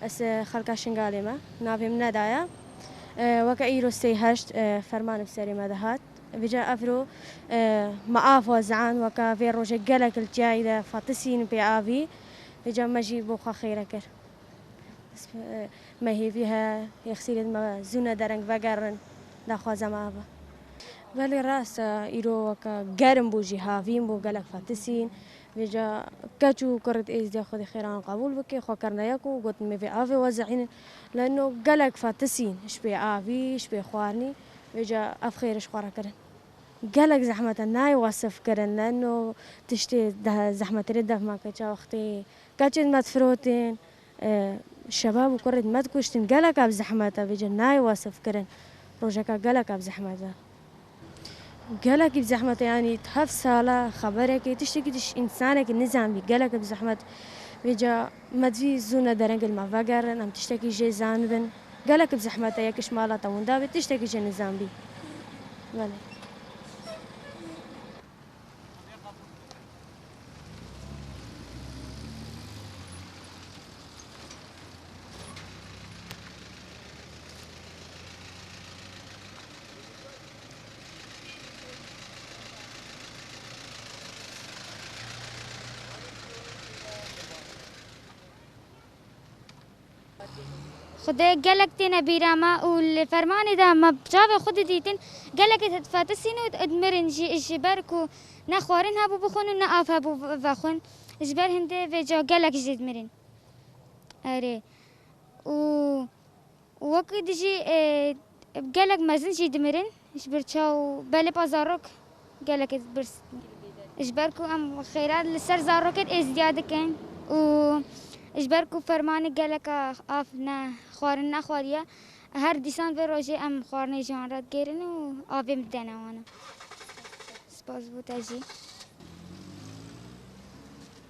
Ez xelka Şingalê me. Navê min Neda ye. Weke îro sey heşt ferman bi serê me dihat. Vêca Efro ma a xwe ziand weka vê rojê gelek li çiyayê de fatisîn pê avî. Vêca me jî bo xwe xêre kir. Me hêvî he yexsîrên me zûne dereng vegerin daxwaza me ava. Belê rast e îro weka germ bû jî havîn bo gelek fatisîn. Vêca keç û kurid Êzidîya xwedî xêran qebûl bike xwe kirine yek û gotin me vê avê we ziînin. Leno gelek fatisîn ji pê avî ji pê xwarinî. Wê ca ev xêr ji xwe re kirin. Gelek zehmet e nayê wesif kirin. Lano tiştê zehmetirê dev ma keça wextê keçên me difirotên, şebab û kurên me dikuştin. Gelek ev zehmet e. Vê ca nayê wesif kirin. Rojeka gelek ev zehmet e. Gelekî bi zehmet e yanî di hev sal e xeberekê tiştekî tişt însanekî nizanbî. Gelekî bi zehmet e. Vê ca. Me cî zû ne derengên me vegerin, em tiştekî jê zanibin. Gelek bi zehmet e yekiş mala te winda bê, tiştekî jê nizanbî. Belê. Xwedê gelek têne bîra me û li fermanê de me bi çavê xwe didîtin gelekê fetisîn û mirîn jî ji ber ku ne xwarin hebû bixwin û ne av hebû vexwin ji ber hindê vê ca gelek jî dimirîn. Erê û Û wekî di jî gelek mezin jî dimirin ji ber çaw û belê pa zarok gelekê birz ji ber ku em xêra li ser zarokê de êzîdiya dikin û ji ber ku fermanê geleka av ne xwarin nexwariye her dîsan vê rojê em xwarinê ji wan re digêrin û avê bidene wan. Spas bo te jî.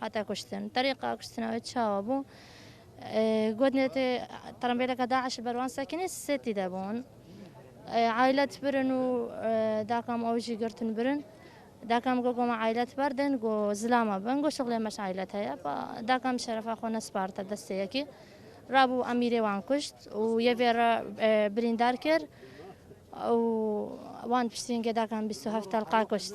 Hate kuştin. Terîqa kuştina wê çawa bû? Got nêtê terembêleke DAIŞ li ber wan sekinî sê tî de bûn. Ailet birin û dakam ew jî girtin birin. Dakam got goma ailet berdin go zilama bin go şixlê meş ailet heye. Dakam şerefa xwe nesparte destê yekî. Rabû emîrê wan kuşt û yevê re birîndar kir û wan piştî hingê dakam bîst û heft telqa kuşt.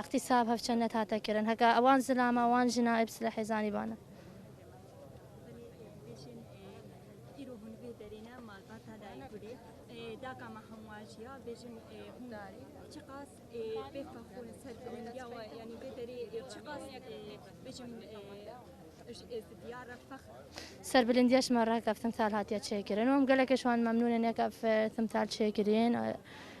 Îxtîsab hevçend net hate kirin. Heke wan zilama wan jina ê bi silehê zanî bane. Serbilindiya ji me re heke ev timsal hatiye çêkirin û em gelekê ji wan memnûn in heke ev timsal çêkirîn.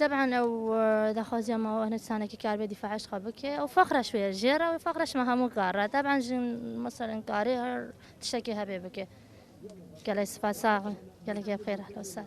Teb'an ew daxwaziya ma hinek sanekî kar bê dîfa eşqa bike ew fexra şû ye jê re wê fexra şima hemû kar re teb'an jin meselên karê her tiştekî hebê bike gelek sipas sax bî gelekî bi xêr ehlo ser